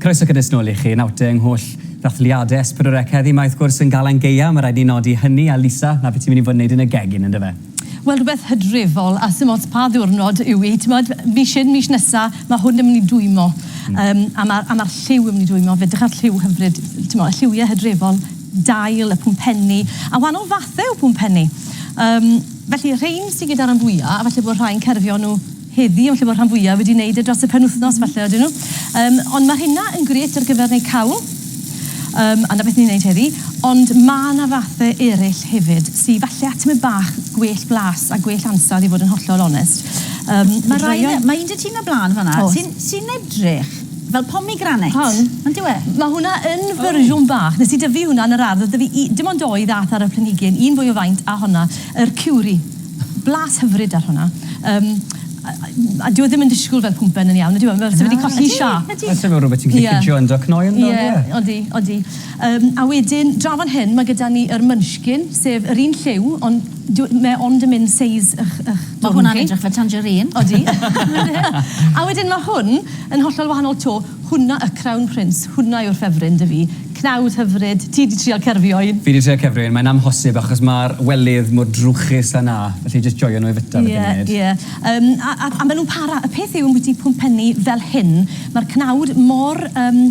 Croeso cynnes nôl i chi. Nawr te, yng ngholl ddathliadau S4C heddi, mae wrth gwrs yn Galan Gaea, mae rhaid ni nodi hynny, a Lisa, 'na be ti'n mynd i fod yn neud yn y gegin, yn dyfe? Wel, rhywbeth hydrefol, a sdim ots pa ddiwrnod yw 'i, t'mod, mis hyn, mis nesa, ma' hwn yn mynd i dwymo. Yym, a ma'r a ma'r lliw yn mynd i dwymo, fe 'drych ar lliw hyfryd, t'mo', y lliwie hydrefol. dail, y pwmpenni, a wahanol fathau o bwmpenni. Um, felly, rhain sy'n gyda'r rhan fwyaf, a falle bod rhai'n cerfio nhw heddi, ond lle bod rhan fwyaf wedi wneud e dros y penwythnos, falle ydyn nhw. Um, ond mae hynna yn gret ar gyfer neu cawl, um, a na beth ni'n wneud heddi, ond mae yna fathau eraill hefyd, sy'n falle at y bach gwell blas a gwell ansawdd i fod yn hollol onest. Um, mae, rhain, mae un dy ti na blaen fanna, sy'n sy edrych Fel pomegranate. Pan? Ond dyw e. Mae hwnna yn fersiwn bach. Nes i dyfu hwnna yn yr ardd. Oedd 'da fi dim ond dou ddath ar y planhigyn, un fwy o faint a honna. Yr cewri. Blas hyfryd ar hwnna. Yym a dyw e ddim yn disgwyl fel pwmpen yn iawn, ydyw e? Mae fe wedi colli siâp. Ydy, ydy. Falle bod rhywbeth ti'n gallu pintio yn dy cnoi ynddo, ie? Ie, odi, odi. Yym a wedyn, draw fan hyn, mae gyda ni yr munchkin, sef yr un lliw, ond... Dw- mae ond yn mynd seis ych ych dwrn chi. Mae hwnna'n edrych fel tangerine. Odi. A wedyn mae hwn yn hollol wahanol 'to. Hwnna y Crown Prince. Hwnna yw'r ffefryn 'da fi. Cnawd hyfryd. Ti 'di trial cerfio un? Fi 'di trial cerfio un. Mae'n amhosib achos mae'r welydd mor drwchus a 'na. Felly jyst joio nhw i fwyta fath o funud. Ie, ie. Yym, a a a maen nhw'n para. Y peth yw ambwyty pwmpenni fel hyn, mae'r cnawd mor, yym,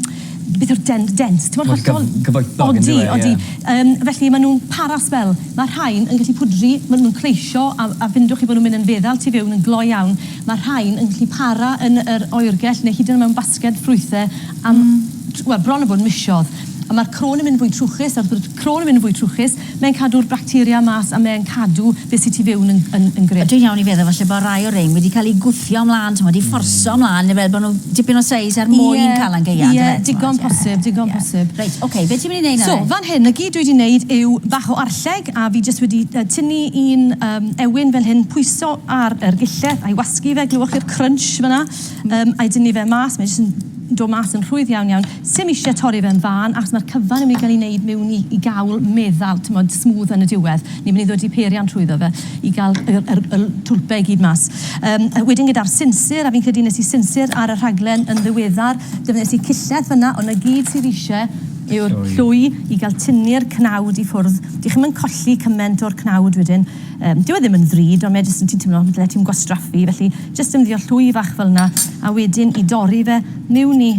beth yw'r den- dent? Timod Wel, hollol... gyf- gyfoethog yndyw e, ie. Odi, odi. Yym, felly ma' nhw'n para sbel. Ma' rhain yn gallu pwdri, ma' nhw'n cleisio a a findwch chi bo' nhw'n mynd yn feddal tu fewn yn gloi iawn. Ma' rhain yn gallu para yn yr oergell neu hyd yn mewn basged ffrwythe am... Hmm. ...t- wel, bron a bod misodd. A ma'r crôn yn mynd yn fwy trwchus a wrth gwrs Croen yn mynd yn fwy trwchus, mae'n cadw'r bacteria mas a mae'n cadw beth sy tu fewn yn yn yn grym. Dwi'n iawn i feddwl falle bod rai o rein wedi cael eu gwthio ymlaen t'mod i fforso ymlaen neu fel bod nhw dipyn o seis er mwyn cael yn gaeaf yndyfe? Ie, digon posib, digon posib. Reit, ok, be ti'n mynd i wneud nawr? So, fan hyn, 'na gyd dwi wedi wneud yw bach o arlleg a fi jyst wedi tynnu un yym ewyn fel hyn, pwyso ar yr gille a'i wasgu fe, glywch chi'r crunch fan'na? Yym a'i dynnu fe mas, mae jyst yn dod mas yn rhwydd iawn iawn. Sim isie torri fe yn fân achos ma'r cyfan yn myn' i ga'l 'i neud miwn i i gawl meddal t'mod smooth yn y diwedd. Ni myn' i ddod i peiriant trwyddo fe i ga'l y yr y l- twlpe i gyd mas. Yym a wedyn gyda'r sinsir a fi'n credu nes i sinsir ar y rhaglen yn ddiweddar defnyddies i cillell fyn 'na on' 'na gyd sydd isie yw'r llwy i ga'l tynnu'r cnawd i ffwrdd. Dych chi'm yn colli cyment o'r cnawd wedyn. Yym dyw e ddim yn ddrud on' mae jyst yn ti'n timlo dyle ti'm gwastraffu felly jyst defnyddio llwy fach fel 'na a wedyn i dorri fe miwn i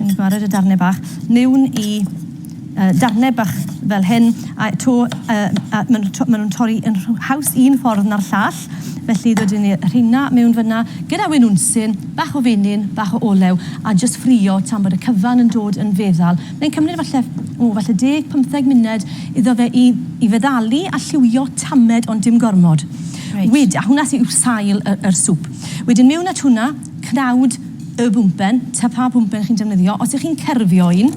Ni'n gwared y darnau bach mewn i uh, darnau bach fel hyn, a to, uh, a maen nhw'n to, ma torri yn haws un ffordd na'r llall, felly dydyn ni rheina mewn fyna, gyda wyn wnsyn, bach o fenyn, bach o olew, a jyst ffrio tan bod y cyfan yn dod yn feddal. Mae'n cymryd falle, o, falle 10-15 munud iddo fe i, i feddalu a lliwio tamed ond dim gormod. Right. Wyd, a hwnna sy'n sail y, yr swp. Wedyn mewn at hwnna, cnawd y bwmpen, ta pha bwmpen chi'n defnyddio, os y'ch chi'n cerfio un,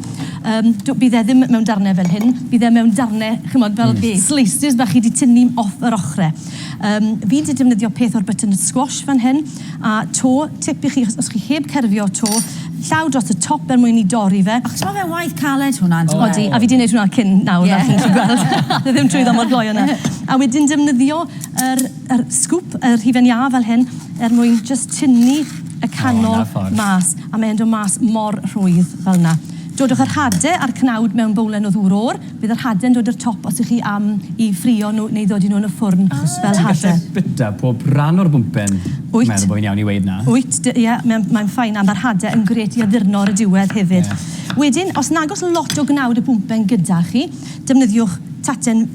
yym, do- bydd e ddim mewn darne fel hyn, bydd e mewn darne, ch'mod, fel slices bach chi 'di tynnu off yr ochre. Yym, fi 'di defnyddio peth o'r butternut squash fan hyn, a 'to, tip i chi, os os chi heb cerfio 'to, llaw dros y top er mwyn i dorri fe. Achos ma' fe'n waith caled hwnna on'd yw e? Odi, a fi 'di neud hwnna cyn nawr fel chi'n gallu gweld. Do'dd e ddim trwyddo mor gloi â 'na. A wedyn defnyddio yr yr sgwp, yr hufen iâ fel hyn, er mwyn jyst tynnu y canol mas, a mae'n dod mas mor rhwydd fel yna. Dodwch yr hade a'r cnawd mewn bowlen o ddŵr o'r, bydd yr hade'n dod i'r top os ych chi am i ffrio nhw neu ddodi nhw yn y ffwrn fel hade. Ti'n gallu bwyta pob rhan o'r bwmpen? Wyt. Meddwl bod fi'n iawn i weud na. Wyt, ie, mae'n ffain, a mae'r hade yn grêt i addurno ar y diwedd hefyd. Wedyn, os nag oes lot o gnawd y bwmpen gyda chi, defnyddiwch taten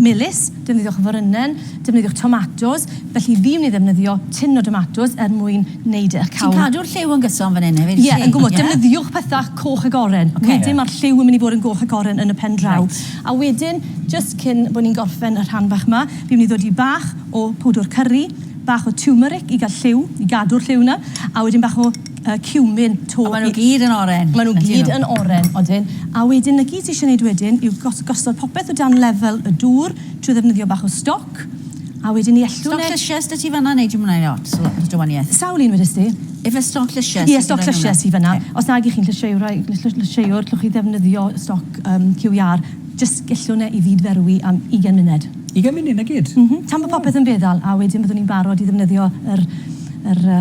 melys, Defnyddiwch offerynnen, defnyddiwch tomatos, felly fi myn i ddefnyddio tin o domatos er mwyn neud eich cawl. Ti'n cadw'r lliw yn gyson fan hyn hefyd wyt ti? Ie yn gwmws, defnyddiwch pethau coch ac oren, wedyn ma'r lliw yn mynd i fod yn goch ac oren yn y pen draw. A wedyn, jyst cyn bo ni'n gorffen y rhan bach ma, fi myn i ddodi bach o powdwr cyrri, bach o tiwmeric i ga'l lliw, i gadw'r lliw na, a wedyn bach o yy cumin to... A ma' nhw gyd yn oren. Ma' nhw gyd yn oren, odyn. A wedyn 'na gyd ti isie neud wedyn yw gos- gosod popeth o dan lefel y dŵr trwy ddefnyddio bach o stoc a wedyn ni ellw ne... Stoc llysie s'da ti fan'na neu dim wnna i lot o lot o dywanieth? Sawl un wedest ti? Ife stoc llysie sy... Ie stoc llysie sy fan'na. Os nag 'ych chi'n llysieuwr ai llysieu- llysieuwr llwch chi ddefnyddio stoc yym QER jyst gellwn e i fyd-ferwi am ugen munud. Ugen munud 'na gyd? M-hm. Tan bo popeth yn feddal a wedyn byddwn ni'n barod i ddefnyddio yr yr yy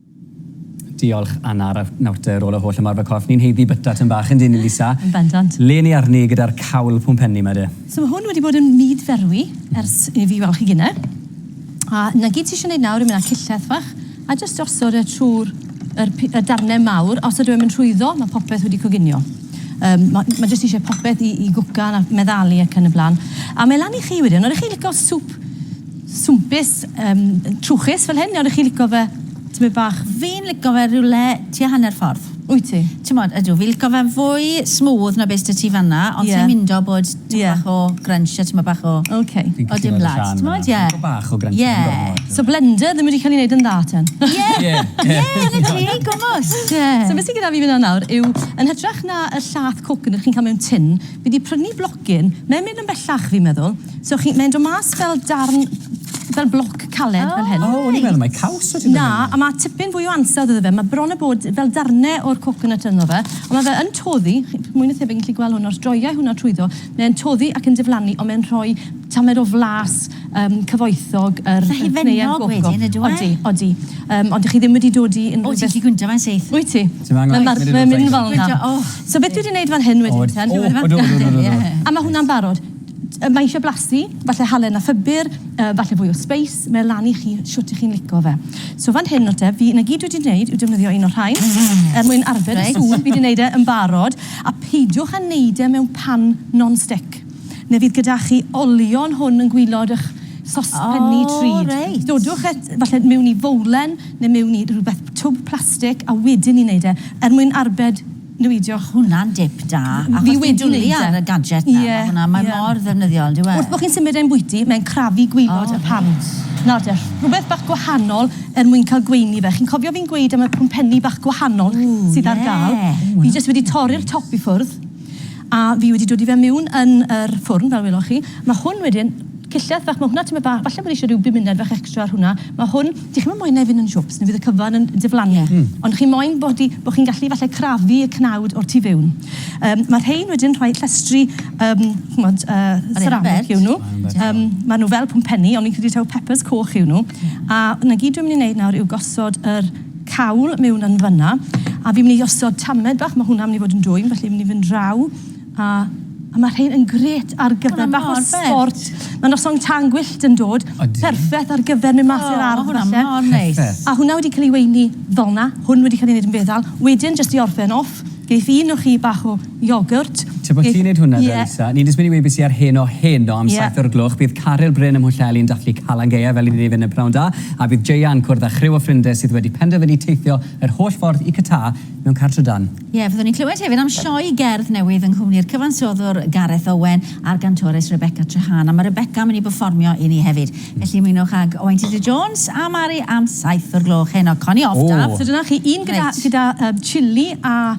Diolch Anna ar nawrte ar ôl y holl ymarfer corff ni'n haeddu byta tym bach yndyn ni Lisa? Yn bendant. Len i arni gyda'r cawl pwmpenni ma de. So ma hwn wedi bod yn myd ferwi ers i fi weld chi gine. A na gyd ti isio neud nawr yw myn â cilleth fach a jyst gosod e trw'r yr pi- y darne mawr os ydyw e'n mynd rhwyddo ma popeth wedi coginio. Yym ma ma jyst isie popeth i i gwcan a meddalu ac yn y blan. A mae lan i chi wedyn. Odych chi'n lico swp swmpus yym trwchus fel hyn neu ydych chi'n licio fe tymed bach Fi'n lico fe rywle tua hanner ffordd. Wyt ti? T'mod, ydw, fi'n lico fe'n fwy smooth na be' s'da ti fan'na ond sai'n mindo bod tymed bach o grunch a tymed bach o... Ok. Fi'n cytuno gyda Siân fan'na. T'mod, ie. Tymed bach o grunch ddim gormod. Ie. So blender ddim wedi cael ei wneud yn dda ten? Ie! Ie! Ie! Dyna ti! Gwmws! Ie. So be' sy gyda fi fan 'na nawr yw, yn hytrach na y llath coconut chi'n cael mewn tin, fi 'di prynu Gin. Mae'n mynd yn bellach fi'n meddwl. So chi, mae'n dod mas fel darn, fel bloc caled fel hyn. O, o'n i'n meddwl mai caws o' ti Na, a ma' tipyn fwy o ansawdd iddo fe. Ma' bron a bod fel darne o'r coconut ynddo fe, ond ma' fe yn toddi, chi mwy na thebyg yn gallu gweld hwn, os droiai hwnna trwyddo, mae e'n toddi ac yn diflannu, ond mae'n rhoi tamed o flas. Yym, cyfoethog yr... Felly fe'n nog wedyn ydyw e? Odi, odi. Yym, ond dych chi ddim wedi dod i unrhyw beth... O, ti'n gallu gwyntio fe'n syth. Wyt ti? Ti'm angen. Mae'n marw- mae'n mynd fel 'na. O! So beth dwi 'di neud fan hyn wedyn te... O, o, do, do, do, do. A ma' hwnna'n barod. Yy, mae eisiau blasu, falle halen a phupur, yy, falle fwy o sbeis, mae e lan i chi shwt 'ych chi'n lico fe. So fan hyn nawr te, fi, 'na gyd dwi 'di neud yw defnyddio un o'r rhain, er mwyn arbed y sŵn, fi 'di neud e yn barod, a peidiwch â neud e mewn pan non-stick. Neu fydd gyda chi olion hwn yn gwylod y'ch sospenni trud. O reit. Dodwch e falle miwn i fowlen neu miwn i rywbeth, twb plastic, a wedyn ni'n neud e, er mwyn arbed niweidio. Ma' hwnna'n dip da. Fi wedi neud e. Achos ti'n dwli ar y gadget 'na. Ie. Ma' hwnna, mae mor ddefnyddiol on'd yw e? Wrth bo' chi'n symud e'n bwyty, mae'n crafu gwylod y pant. O reit. Nawr te, rhywbeth bach gwahanol er mwyn cael gweini fe. Chi'n cofio fi'n gweud am y pwmpenni bach gwahanol sydd ar ga'l? Ww, ie. Fi jyst wedi torri'r top i ffwrdd. A fi wedi dod i fe miwn yn yr ffwrn fel weloch chi. Ma hwn wedyn, cillell fach, ma hwnna tymed bach, falle bod eisiau rhyw bumuned fach extra ar hwnna. Ma hwn, dych chi'm yn moyn e fynd yn siwps neu fydd y cyfan yn diflannu. Ond chi moyn bod di, bod chi'n gallu falle crafu y cnawd o'r tu fewn. Yym ma rhein wedyn rhoi llestri yym ch'mod yy seramic yw nhw. Yym ma nhw fel pwmpenni ond fi'n credu taw peppers coch yw nhw. A na gyd dwi'n mynd i neud nawr yw gosod yr cawl mewn yn fanna a fi'n mynd i osod tamed bach, mae hwnna'n mynd i fod yn dwym, felly fi'n mynd i fynd draw a, a mae rhain yn gret ar gyfer bach o sport. Mae noson tan gwyllt yn dod, perffaith ar gyfer mynd mas i'r oh, ardd falle. A hwnna wedi cael ei weini fel na, hwn wedi cael ei wneud yn feddal. Wedyn, jyst i orffen off, geith un o chi bach o Iogwrt. Tra bod ti'n neud hwnna de, Lisa, ni'n jyst mynd i weud beth sy ar Heno heno am saith o'r gloch. Bydd Caryl Bryn ym Mhwllheli yn dathlu Calan Gaeaf fel 'yn ni'n ei fynd yn Pnawn Da, a bydd Jeia yn cwrdd â chriw o ffrindie sydd wedi penderfynu teithio yr holl ffordd i Qatar mewn car trydan. Ie, fyddwn ni'n clywed hefyd am sioe gerdd newydd yng nghwmni'r cyfansoddwr Gareth Owen a'r gantores Rebecca Treharne, a mae Rebecca yn mynd i berfformio i ni hefyd. Felly ymunwch ag Owain Tudur Jones a Mari am saith o'r gloch heno. Connie off, Daf. So dyna chi, un gyda gyda yym chilli a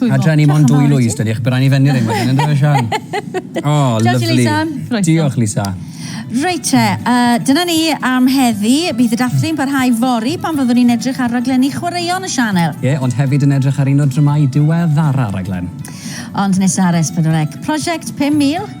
Twymo. Adra ni mond dwy Lwys dydi chi byrani fenni ddim wedyn yndyfe Sian? O, lyfli. Lisa. Diolch Lisa. Reit te, uh, dyna ni am heddi. Bydd y dathlu'n parhau fori pan fyddwn ni'n edrych ar raglenni chwaraeon y sianel. Ie, yeah, ond hefyd yn edrych ar un o dramau diweddara raglen. Ond nesaf ar S4C, prosiect 5000.